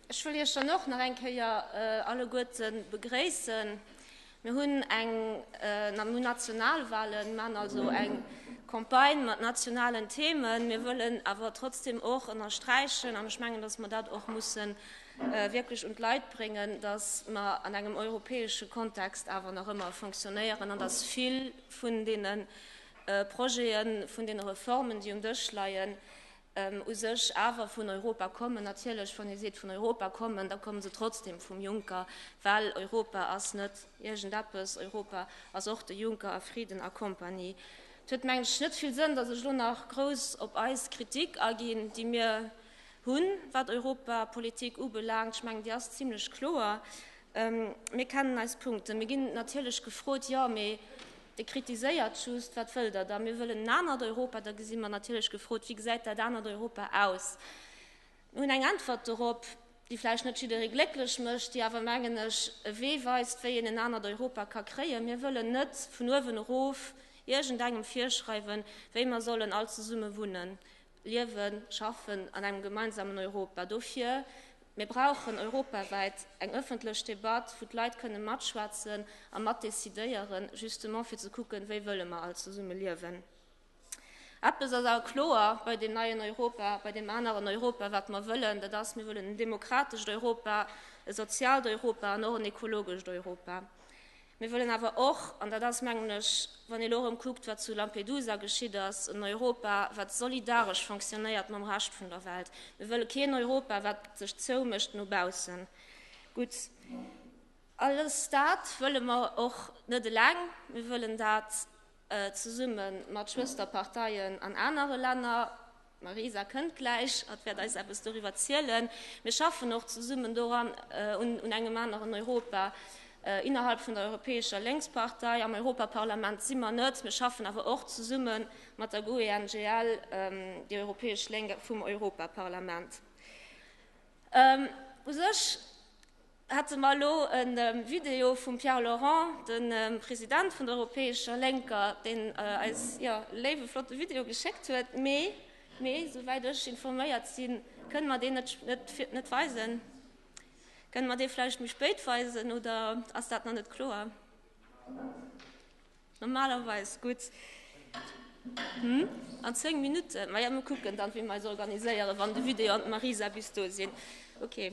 Ech wëll Iech dann och nach eng Kéier alleguerte begréissen. Mir hunn eng äh, mir Nationalwahlen, mir maachen also eng Campagne mat nationalen Themen. Mir wëllen awer trotzdem och ënnersträichen, an ech mengen, dass mer dat och mussen äh, wierklech un d'Leit bréngen, dass mer an engem europäesche Kontext awer nach ëmmer fonctionnéieren an dass vill vun deene äh, Projeten, vun deene Reformen, déi um Dësch leien, u sech awer vun Europa kommen. Natierlech, wann Dir seet vun Europa kommen, da komme se trotzdem vum Juncker, well Europa ass net iergendeppes, Europa ass och de Juncker a Frieden a Kompanie. Et huet, meng ech, net vill Sënn, datt ech elo nach grouss op eis Kritik aginn, déi mir hunn, wat Europapolitik ubelaangt. Ech mengen, déi ass zimlech kloer. Mir kennen eis Punkten. Mir ginn natierlech gefrot, Jo, mee Dir kritiséiert just, wat wëllt Der da? Mir wëllen en anert Europa. Da gesi mer natierlech gefrot, Wéi gesäit dat anert Europa aus? Mir hunn eng Äntwert dorop, déi vläicht net jidderee glécklech mécht, déi awer, mengen ech, e Wee weist, wéi een en anert Europa ka kréien. Mir wëllen net vun uewen erof iergendengem virschreiwen, wéi mer sollen all zesumme wunnen. Liewen, schaffen an engem gemeinsamen Europa. Dofir, Mir brauchen europawäit eng ëffentlech Debatt, wou d'Leit kënne matschwätzen a matdecidéieren, justement fir ze kucken, wéi wëlle mer all zesumme liewen. Eppes ass awer kloer, Bei deem neien Europa, bei deem aneren Europa, wat mer wëllen, dat ass, Mir wëllen en demokratescht Europa, e soziaalt Europa an och en ekologescht Europa. Mir wëllen awer och, an dat ass, mengen ech, wann ee lo erëm kuckt, wat zu Lampedusa geschitt ass, en Europa, wat solidaresch fonctionnéiert mam Rescht vun der Welt. Mir wëlle keen Europa, wat sech zoumécht no baussen. Gutt, alles dat wëlle mer och net eleng. Mir wëllen dat zesumme mat Schwësterparteien an anere Länner. D'Marisa kënnt gläich, hatt wäert eis eppes doriwwer zielen. Mir schaffen och zesummen doran, un engem aneren Europa innerhalb vun der Europäescher Lénkspartei. Am Europaparlament si mer net, mir schaffen awer och zesumme mat der GUE-NGL, déi Europäesch Lénk vum Europaparlament. U sech. Hätte mer elo e Video vum Pierre Laurent, dem President vun der Europäescher Lénker, deen eis e léiwe flotte Video geschéckt huet, mee esou wäit ech informéiert sinn, kënne mer deen net weisen. Kënne mer dee vläicht méi spéit weisen oder ass dat nach net kloer? Normalerweis gutt. An zéng Minutten? Maja, mir kucken dann, wéi mer eis organiséieren, wann de Video an d'Marisa bis do sinn. Ok.